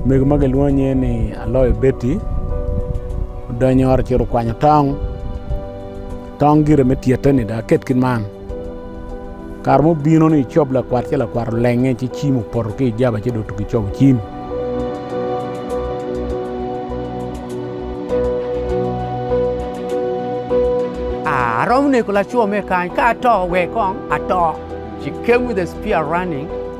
Mego ma gilwongo nge ni Aloy Betty odonyo ot ocito kwanyo tong, tong gire me tyete ni dong aket ki man kare ma obino ni cob lakwat ci lakwat olenge ci cim opoto ki ijaba ci dong otugi cobo cim. Aromo neko laco me kany ka ato wek kong ato she came with a spear running.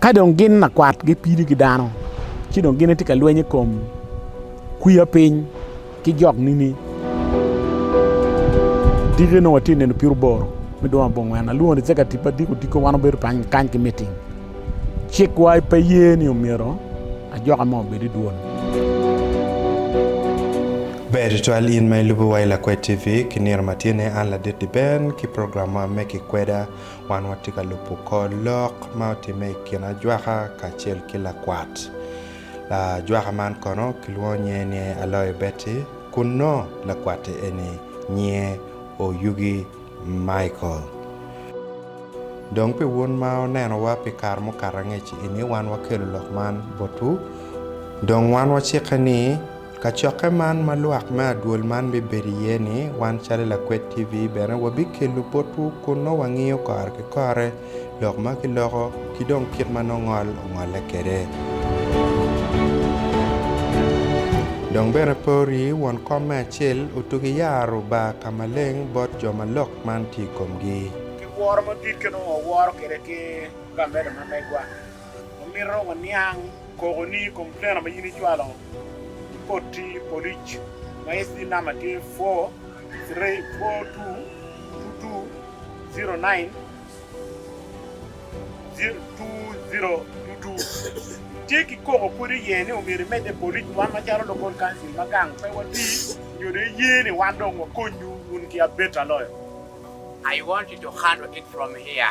Ka dong gin lakwat gipido ki dano ci dong gin gitye ka lweny i kom kwiya piny ki jok nini diki nongo watye ka neno pyeroboro me dwe ma angwen alwongo cika tipo adiko odiko wan wabedo kany ki miting cikwa pe ye ni omyero ajoka mo obed i dwol. Ber tutwal in ma ilubo wa i Lakwed TV ki nino ma tye ne an Ladit Diben ki program ma me ki kweda Wan watye ka lubo kor lok ma otimme i kin ajwaka kacel ki lakwat ajwaka man kono kilwongo nyinge ni Aloe Betty kun nongo lakwat-ti eni nyinge Oyugi Michael. Dong pi wun ma wunenowa pi kare mukato angec-ci eni, wan wakelo lok man botwu dong wan wacikke ni Kacokke man ma lwak me adwol man bibedo iye ni, wan calo Lakwed TV bene wabikelo botwu kun nongo wangiyo kore ki kore, lok ma kiloko, ki dong kit ma nongo ngol ongolle kwede. Dong bene pe wuri won kom me acel otugi yaro bar ka maleng bot jo ma lok man tye i komgi. Ki woro madit ki nongo waworo kwede ki lamedo ma megwa. Wamito waniang koko ni complainer ma in icwalo ki koti polic ma SB number tye four three four two two two zero nine two zero two two itye ki koko pwod iye ni omyero imedde polic wan macalo local council ma gang pe wati nyo dong iye ni wan dong wakonyu wun ki abeta loyo. I want you to handle it from here.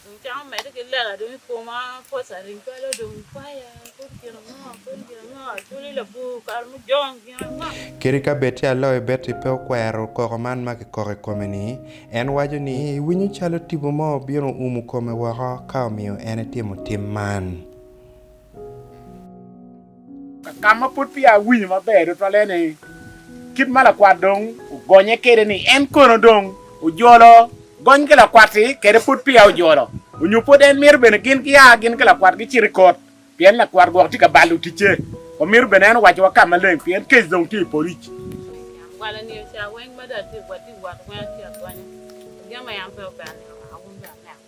Dong cam omedde ki lela dong i koma, pos aring calo dong faya, kodi gin ango, kodi gin ango, acwali labwor kare mujong gin ango. Kadi ka bed ca loyo Betty pe okwero koko man ma kikoko i kome-ni, en waco ni, Winyo calo tipo mo obino oumo kome woko ka omiyo en etimo tim man. Ka ma pud peya awinyo maber tutwalle ni kit ma lakwat dong ogonye kwede ni en kono dong ojolo gony ki lakwat-ti kwede pud peya ojolo, onyo pud en mito bene gin gia gin ki lakwat gicit i kot pien lakwat gwok tye ka balo ticce. Wa mito bene en owacowa ka maleng pien kec dong tye i polic. Nyangwala ni oca weng mada watye ka wot weng atye agonye, jami aye an pe ober nino naka wun bene aneno.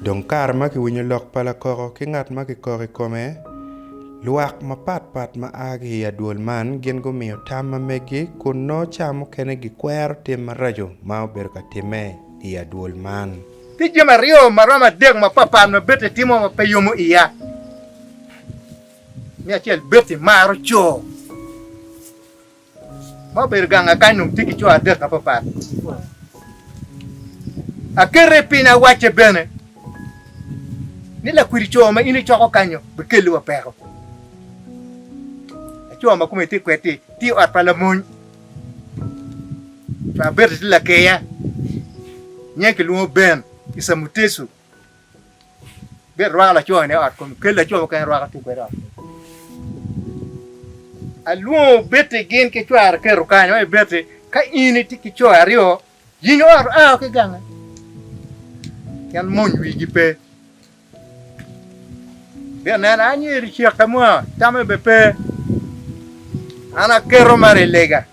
Dong kare ma kiwinyo lok pa lakoko ki ngat ma kikoko i kome, lwak mapat pat ma a ki i adwol man gin gumiyo tam ma meggi kun nongo ca mukene gikwero tim maraco ma obedo ka timme i adwol man. Tye jami aryo ma romo adek mapat pat ma Betty timo ma pe yomo iya. Me acel, Betty maro co. Ma obedo gang akany onongo tye ki co adek apapat. Akete piny awacce bene ni lakwidi co ma in icoko kanyo bikelliwa peko. Laco ma kome tye kwed-ti tye i ot pa lamony. Cware bene tye lakeya, nyinge kilwongo Ben Isa Mutesu. Bit rwako laco ni ot komi, kel laco mukene rwako tung kwede ot komi. Alwongo Betty gin ki cware keto kany oye Betty ka in iti ki co aryo yinyo ot ao ki gange pien mony wigi pe. Bit nena anyeri cek ka mwa tame be pe. An aketo mara i lega.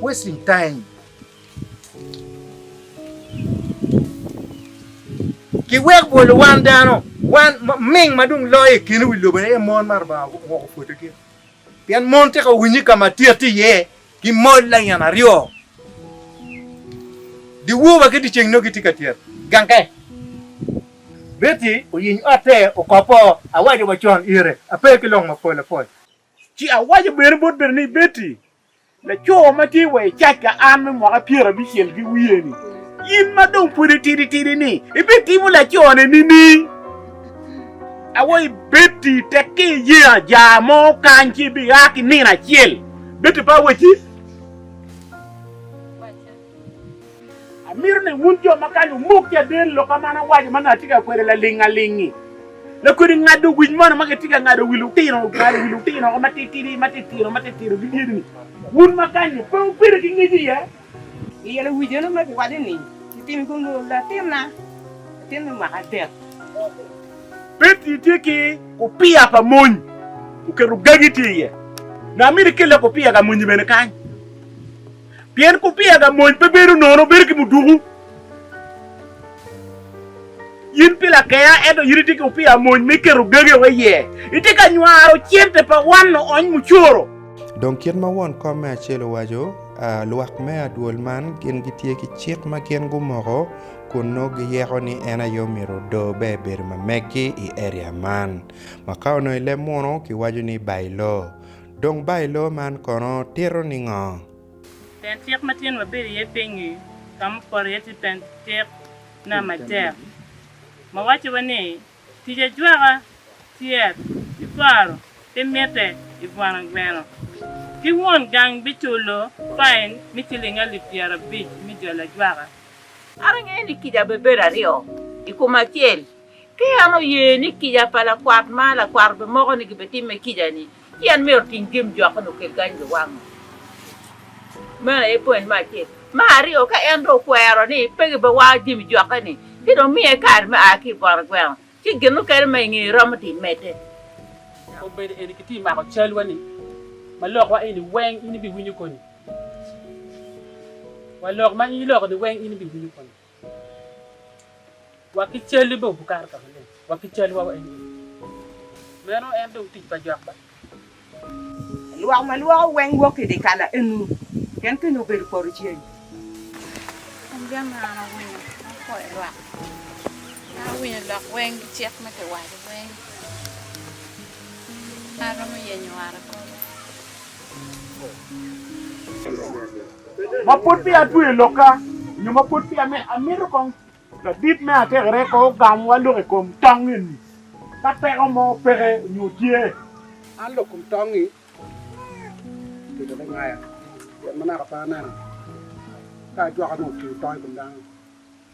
Wasting time. Ki wek bwolo wan dano, wan ming ma dong loyo i keno wi lobo aye mon ma Rubanga owoko pwodo gi. Pien mon tika owinyi ka ma tye ati iye ki mol layen aryo. Di woba ki di ceng no giti ka tyet. Ganke. Betty oyiny otte okoppo, Awaco wa con ire, ape ki long mapol apol. Ci awaco bene bot Berna ni, Betty, laco ma tye wa i cac ka an me mwaka pyer abicel ki wiye-ni, in ma dong pud itidi tidi-ni, ibitimo laco-ni nining? Awaco ni, Betty, tek ka iye ajaa mo kany ci ibia ki nino acel. Betty pe awaci. Amito ni wun jo ma kany wumok ki aden lok ma an awaco ma nongo atye ka kwede laling aling-ngi. Lakodi ngado wic mono ma gitye ka ngado wi lutino, ngado wi lutino matitidi, matitino, matitino ki dyedi-ni. Wun ma kany-nyu, pe wubedo ki ngec iye? Iyelo wic eno ma giwaco ni, Titim kunu, latinna, latin me mwaka adek. Peti tye ki kupiya pa mony, oketo gagi tye iye. Nongo amito ikelle kupiya ka mony-nyi bene kany. Pien kupiya ga mony pe bedo nono, bedo ki muduku. In pi lakeya, ento in itye ki kupiya mony me keto gage wa iye. Itye ka nywaro cente pa wanno ony mucoro. Dong kit ma won kom me acel owaco, lwak me adwol man gin gitye ki cik ma gin gumoko kun nongo giyeko ni en aye omyero odo be ebedo ma meggi i area man. Ma ka onongo i leb muno, kiwaco ni Bailoo. Dong Bailo man kono tito ningo? Pen cik ma tyen wabedo iye piny-ngi ka mupoto iye tye pen cik na matek ma wacciwa ni, Tic ajwaka, tyet, ki kwaro pe mitte i bwana gweno, ki won gang biculo fain me ciling alip pyerabic me jolo ajwaka. An angeyo ni kica bibedo aryo i kom acel. Ka en oye ni kica pa lakwat ma lakwat obimoko ni gibitimme kica-ni, ci en myero oting jami jok onongo okel kany biwango. Meno aye poin me acel. Me aryo, ka en dong okwero ni pe gibiwango jami jokke-ni, ci dong miye kaad me a ki i bot gweno, ci gin mukene ma ingeye iromo dong imedde. Dok obedo eni kitye mako calwa-ni ma lokwa eni weng, in ibiwinyo koni? Wa lok ma in iloko-ni weng, in ibiwinyo koni? Wa ki cal i buk Kato ka Maleng wa ki cal wa eni. Meno en dong tic pa jwak ba. Lwak ma lwoko weng wok i dye kala enu pien kenyo obedo poto ceng. An gin ma an awinyo, an akoyo lwak. An awinyo lok weng ki cik ma kiwaco weng. An aromo yenyo ot akobo. Ma pud peya atweyo i lokka, nyo ma pud peya amito kong ladit me atekere pe ogamwa lok i kom tong eni. Ka peko mo peke nyo tye, an lok kom tong-ngi obedo me ngaya pien ma naka pe aneno ka ajwaka nongo otingo tong i kom dano.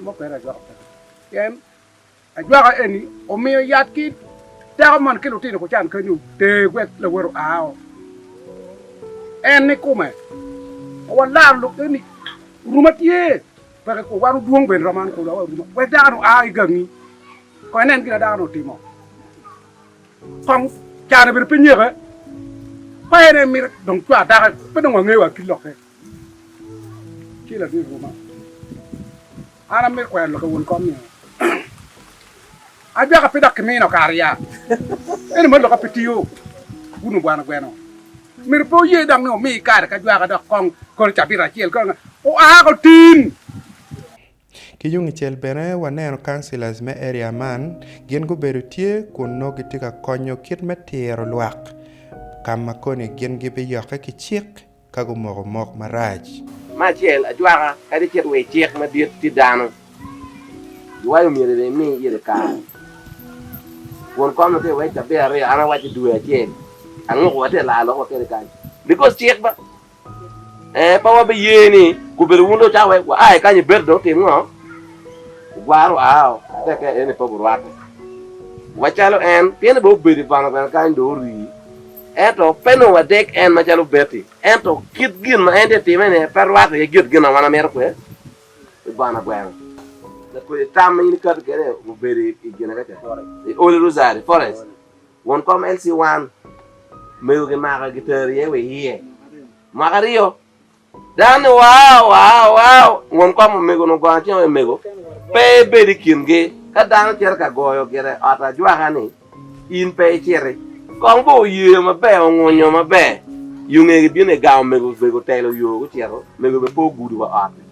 Mo kwena ajwako peko pien ajwaka eni omiyo yat ki dako man ki lutino gucan kany oter wek lawote oa o. En ni kume pe walaro lok eni oruma tye peke kwo wan odwong bene romo an kulu oruma wek dako ni oa ki gangi kong inen gina dako ni otimo kong cane bene pe nyeke pa en en mito dong cwar dako pe dong wangeyo wa ki lokke. Ci Latin ruma, An amito kwero lok awon kom ni, Ajwaka pe dok kimino kare ya, ento ma lokka pe tiyo wun obwana gweno. Myero pe wuye dok ni wumi kare ka jwaka dok kong kono cabit acel kong oa otin. Ki yung icel bene waneno councillors me area man gin gubedo tye kun nongo gitye ka konyo kit me tiro lwak ka ma koni gin gibiyokke ki cik. ka gumoko mok marac. Me acel, ajwaka kadi cit wa i cik madit tye dano, jwai omyero bene imi ite kare. Kun kom lutino wai cabit aryo, an awaco due acel, anguko wa te laa lokwa kede kany because cik ba ee pe wa be ye ni gubedo wun dong wucako wai wa ai kany ibedo dong wutim ngo? Wugwaro wa ao ate kede ni pe gurwaki wa calo en, pienni bene obedo i bono bene kany dong orii. Ento pe nongo wadek en macalo obed-di, ento kit gin ma en tye ka timme-ni pe rwako iye kit gin ma wan wamito kwede pi bona gweno. Tek kodi tam ma in ikati kwede obedo i gine ka ca, i odi ruzari, forest, won kom LC1, mego gimako giteri iye wa iye. Mwaka aryo. Dan ni, Wow! Wow! Wow! Won kom omego onongo gongo acel omego pe ebedo i kingi. Ka dano ocito ka goyo gire ot ajwaka ni, In pe iciti. Kong bo oyeyo maber, ongunyo maber. Yo ngegi bino i gang omego obego otelo yo gucito. Omego bene pe ogudo wa ot-ti.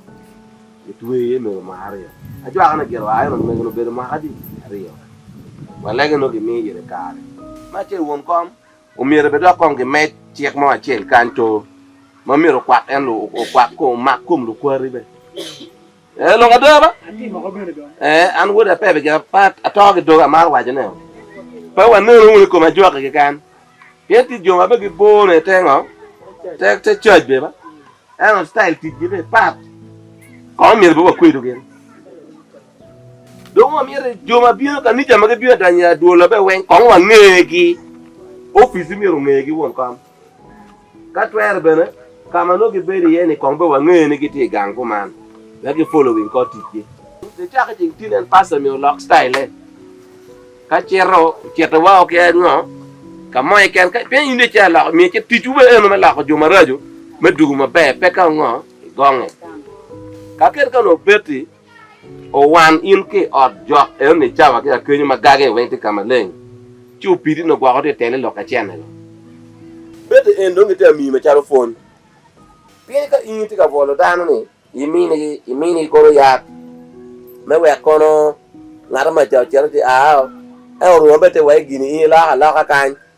Gitweyo iye omego mwaka aryo. Ajwaka ni gire oa eno, Omego-ni obedo mwaka adi? Aryo. Walege nongo gimiyo ite kare. Ma ce won kom. Omyero bed dok kong gimed cik mo acel kany to ma myero okwak en lu okwak ko omak kom lukwari be. Eh long ada ba? Eh an wode ape bigi apa ato ki doga amaro waco ne pe wa neno wunu kom ajwaki keken pien tic jo ma be gi bor ne te ngo te te church be ba eno style tic gi be pat kong myero be wa kwedu gin. Dong wamyero jo ma bino i kanica ma gibino danyo i adwola bene weng kong wangegi. Opici myero ongegi won kom. Ka twere bene, ka ma nongo gibedo iye ni kong bene wange ni gitye i gang kuman, wek gifolowing kor ticgi. Nicaka i ceng tin en pasta myero olok citayile. Ka cito, ocito woko ki ango? Ka mo keken ka pien in ice aloko, myero ice ticwu bene eno me loko jo maraco me dugu maber, peka ongo igonge. Kakit ka onongo obeti, Owan in ki i ot jok enoni cawa ki akenyo ma gage weng tye ka maleng, ci opidi ni ogwoko tye i tele lok acene go. Bete en dong gitye amiyi macalo pwony. Pien ka in itye ka bwolo dano ni iminigi, iminigi kono yat me wek kono ngat ma ca ocito ci ao, ento Rwoma bene tye wai gini in iloko aloka kany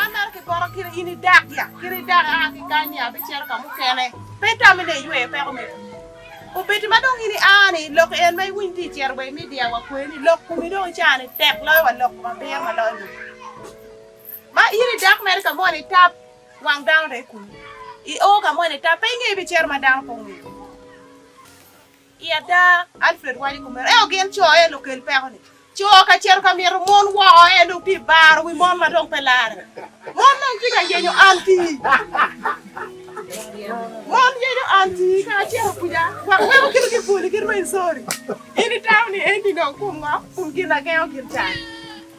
An mere ki poto kiri in idak ya kiri idak aa ki kany ni abicito ka mukene pe itami ne iyweyo peko me kwi obeti ma dong in ia ni lok en ma iwiny ti icito wa i media wa kwe ni lok kumi dong ica ni tek loyo wa lok kom abiro ma loyo lok ma in idak mere ka mo ni tap wang dano re kunu i o ka mo ni tap pe ingeyo ibicito ma dano pe ongeyo I ada, Alfred waco kumeno. Ento gin co aye lukel peko-ni. Co ka cito ka mito mon woko aye dong tye baro wi mon ma dong pe larre. Mon dong tye ka yenyo anti. Mon yenyo anti ka acito kuca wek weko kit ki boli ki rweny sori. In itamo ni eni dong kum ngo? Kum gin agengo gin can.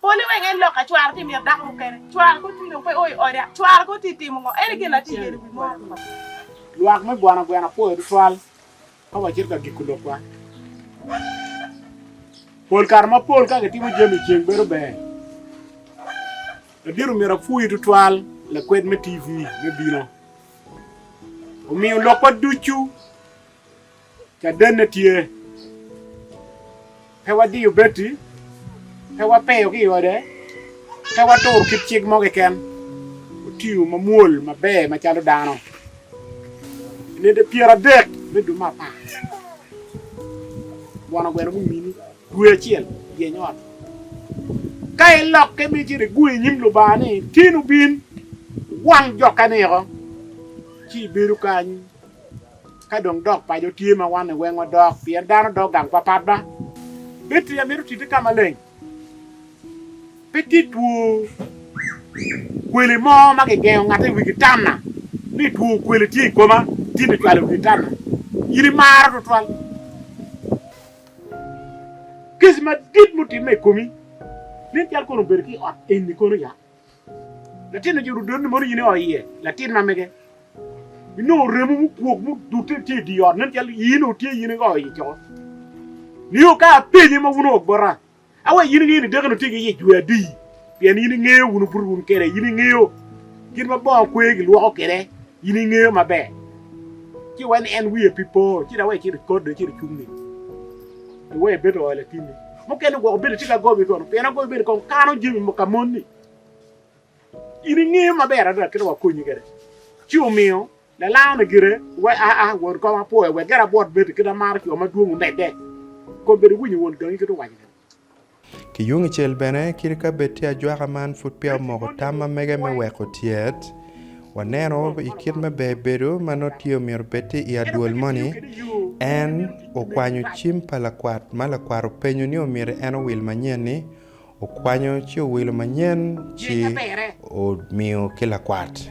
Pole weng en lok ka cware ti mito dako mukene. Cware ko ti dong pe o i oda. Cware ko ti timo ngo? Ene gin ati yelo wi mor pa. Lwak me gwana gwena apoyo tutwal ka wacito ka giko lokwa. Pol kare ma pol ka kitimo jami ceng bedo ber. Ladit omito apuyi tutwal lakwed me TV me bino omiyo lokwa ducu. Cadenne tye, pe wadiyo beti, pe wapeyo ki i ode, pe waturo kit cik mo keken. Otiyo mamwol maber macalo dano i nede pyeradek me dwe me apar. Bono gweno gumini dwe acel yeny ot. Ka ilokke ma icito iguyo i nyim Lubanga ni, Tin obin, wang jokke niko, ci ibedo kany. Ka dong dok paco tye ma wanne weng odok pien dano dok gang papat ba bed tye amito tite ka maleng pe tye two kweli mo ma kigengo ngate iwi gitana ni two kweli tye ikoma tye me cwalo iwi gitana in imaro tutwal kec madit mutimme ikomi nen cal kono obedo ki ot eni kono ya. Latinni ojuto doti-ni mono in io iye, latin ma mege. Inongo remo mukwok mudute tye i dye ot, nen calo in onongo tye in io iye coko. Nio ka apenye ma wun onongo bota, aweko in inge ni dako-ni otye ki yec dwe adi, pien in ingeyo, wun obuto wunu kede, in ingeyo kit ma bongo kwer gilwoko kede, in ingeyo maber. Ci iwek ni en wiye pi po, ci dawek icit ikot dong icit icung-nge. Iwe ebedo oa latinni. Mukene gwoko bedo tye ka gobi kono pien agobi bedo kong kano jami mo ka monni. In ingeyo maber adada kit wa konyi kede. Ci omiyo lalango ni gire we a a wod kong apwoya wek gire abwot beti kit amaro coo madwong omedde. Kong bedo winyo won gangi kit owaco kede. Ki yung icel bene, kit ka bed tye ajwaka man pud peya omoko tam ma mege me weko tyet, waneno i kit me ber bedo ma nongo tye omyero obed tye i adwol moni, en okwanyo cim pa lakwat ma lakwat openyo ni omyero en owil manyen-ni, okwanyo ci owilo manyen ci omiyo ki lakwat.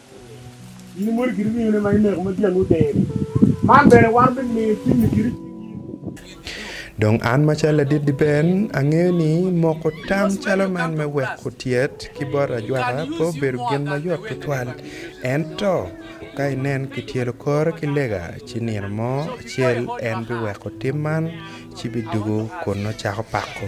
In imwodo kit ringone ma ineko ma dyanggi odero-ri, man bene wan bimiyo timmi kit cwiny in. Dong an macalo ladit Liben, angeyo ni moko tam calo man me weko tyet ki bot ajwaka pe obedo gin mayot tutwal. Ento ka inen kityelo kore ki lega, ci nino mo acel en biweko tim man ci bidugo kun nongo cako pako.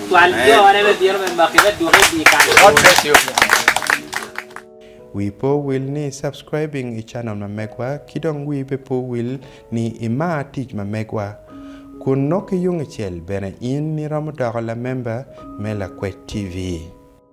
Wii pe owil ni subscribing i channel ma megwa ki dong wii be pe owil ni i mar tic ma megwa. Kun nok ki yung i cel bene in ni romo doko la member me Lakwet TV.